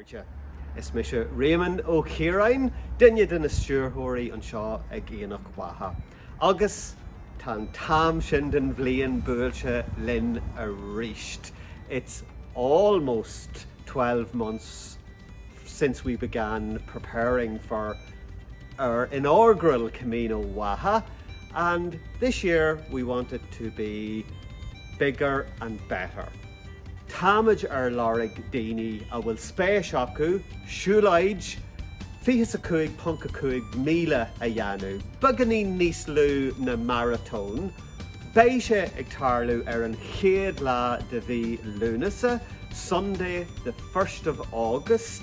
Cairde. Is mise Réamonn Ó Ciaráin, duine de na stiúrthóirí anseo ag Aonach Mhacha, agus tá an t-am sin den bhliain buailte linn arís. It's almost twelve months since we began preparing for our inaugural Camino Mhacha and this year we want it to be bigger and better. Táimid ar lorg daoine a bhfuil spéis acu siúlóid 25.5 míle a dhéanamh, beagáinín níos lú na maratón. Beidh sé ag tarlú ar an chéad lá de mhí Lúnasa, Sunday the first of August.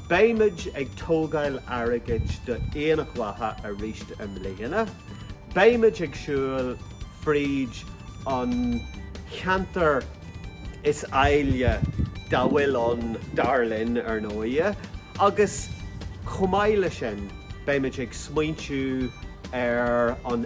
Beimid ag tógáil airgid do Aonach Mhacha arís i mbliana. Beimid ag siúl fríd an cheantar is áille dá bhfuil ann, dar linn, ar ndóighe, agus chomh maith leis sin, beimid ag smaointiú ar an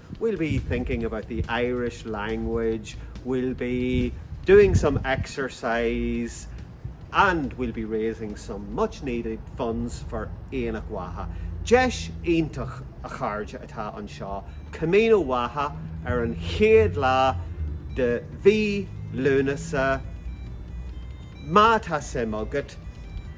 we'll be thinking about the Irish language, we'll be doing some exercise and we'll be raising some much needed funds for Aonach Mhacha. Deis iontach, a chairde, atá anseo, Camino Mhacha ar an chéad lá de mhí Lúnasa, má tá suim agat,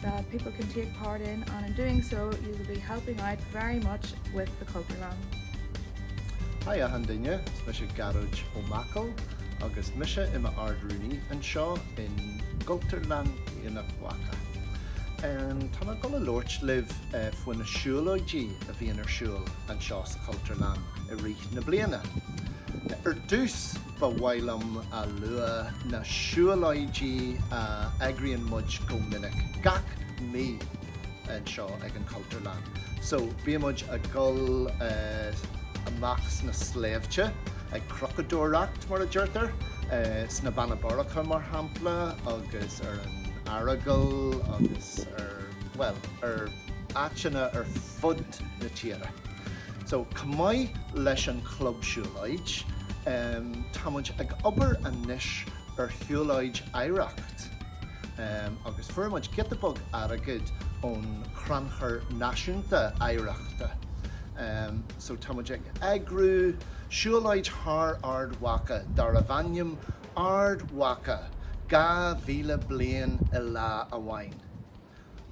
that people can take part in and in doing so you will be helping out very much with the Cultúrlann. Hi achan duine, is mise Gearóid Ó Machail agus mise i m'Ard-Rúnaí anseo i gCultúrlann Aonach Mhacha. Tá mé ag dul a labhairt libh faoi na siúlóidí a bhíonn ar siúl anseo sa Chultúrlann i rith na bliana. Ar dtús, Ba mhaith liom a lua na siúlóidí a eagraíonn muid go minic, gach mí, anseo ag an Chultúrlann. So, bíonn muid a' dhul amach sna sléibhte, ag crocadóireacht, mar a deirtear, sna Beanna Boirche, mar shampla, agus ar an Earagail agus ar, bhuel, ar. áiteanna ar fud na tíre. So, chomh maith leis an Chlub Siúlóid, tá muid ag obair anois ar shiúlóid oidhreachta agus fuair muid giota beag airgid ón Chrannchur Náisiúnta Oidhreachta. So, tá muid ag eagrú siúlóid thar Ard Mhacha darbh ainm Ard Mhacha 2000 Bliain i Lá Amháin.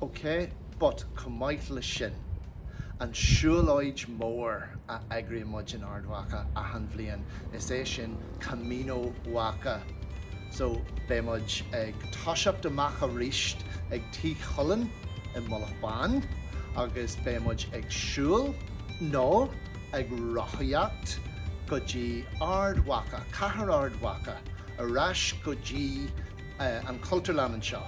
OK, but chomh maith leis sin, an siúlóid mhór a eagraíonn muid in Ard Mhacha achan bhliain, is é sin Camino Mhacha. So, beidh muid ag toiseacht amach aríst ag Tigh Chulainn i Mullach Bán agus beidh muid ag siúl, no, ag rothaíocht, go dtí Ard Mhacha, Cathair Ard Mhacha, ar ais go dtí an Chultúrlann anseo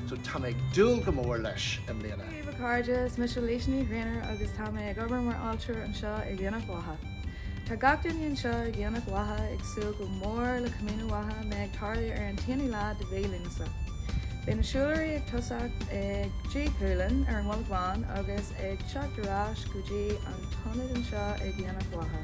so tá mé ag dúil go mór leis i mbliana. Dia daoibh, a chairde, is mise Laoise Ní Ghréacháin agus tá mé ag obair mar ealaíontóir anseo ag Aonach Mhacha. Tá gach duine anseo ag Aonach Mhacha ag súil go mór le Camino Mhacha a bheidh ag tarlú ar an t-aonú lá de mhí Lúnasa. Beidh na siúlóirí ag tosacht ag Tigh Chulainn ar an Mhullach Bhán agus ag teacht ar ais go dtí an t-ionad anseo ag Aonach Mhacha.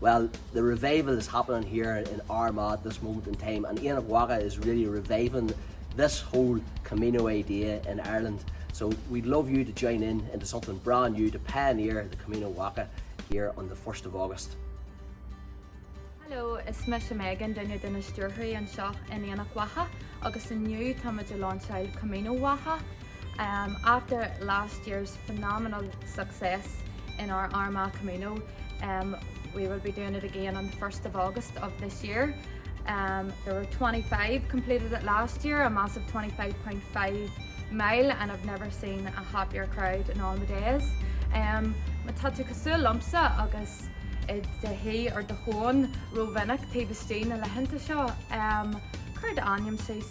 Well, the revival is happening here in Armagh at this moment in time and Aonach Mhacha is really reviving this whole Camino idea in Ireland. So we'd love you to join in into something brand new to pioneer the Camino Mhacha here on the first of August. Hello, is mise Megan, duine de na stiúrthóirí anseo in Aonach Mhacha agus inniu táimid ag lainseáil Camino Mhacha. After last year's phenomenal success in our Armagh Camino we will be doing it again on the first of August of this year. There were 25 completed it last year, a massive 25.5 mile and I've never seen a happier crowd in all my days. Má tá tú cosúil liomsa agus i do shuí or do thóin rómhinic taobh istigh na laethanta seo, cuir d'ainm síos.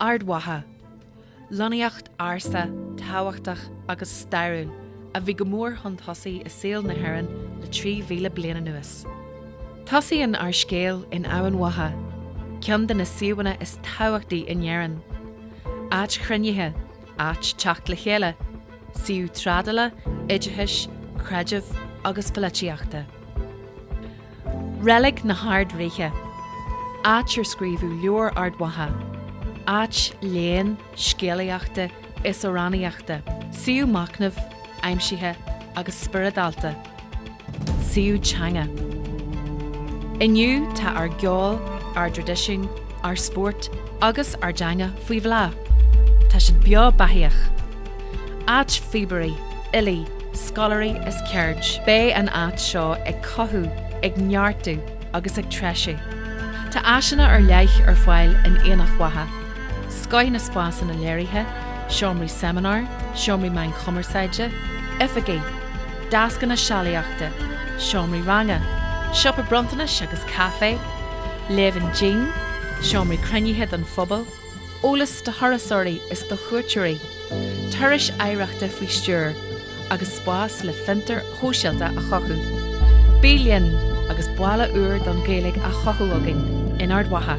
Ard Mhacha. Lonnaíocht ársa, tábhachtach agus stairiúil a bhí go mór chun tosaigh i saol na hÉireann le 3,000 bliain anuas. Tosaíonn ár scéal in Eamhain Mhacha, ceann de na suíomhanna is tábhachtaí in Éirinn. Áit chruinnithe, áit teacht le chéile, suíomh trádála, oideachais, creidimh agus pholaitíochta. Reilig na hArd-Ríthe, áit ar scríobhadh leabhar Ard Mhacha, áit léinn, scéalaíochta is amhránaíochta, suíomh machnaimh, aimsithe agus spioradálta, suíomh teanga. Inniu tá ár gceol, ár dtraidisiún, ár spórt agus ár dteanga faoi bhláth. Tá siad beo beathaíoch. Áit phíobairí, fhilí, scoláirí is ceird. Beidh an áit seo ag cothú, ag neartú agus ag treisiú. Tá áiseanna ar leith ar fáil in Aonach Mhacha, scoth na spásanna léirithe, seomraí seimineár, seomraí meáin chumarsáide, oifigí, deascanna sealaíochta, seomraí ranga, siopa bronntanais agus caifé. Leven Gym, seomraí cruinnithe don phobal, eolas do thurasóirí is do chuairteoirí, turais oidhreachta faoi stiúir, agus spás le fiontair shóisialta a chothú. Bí linn agus baile úr don Ghaeilge á chothú againn in Ard Mhacha!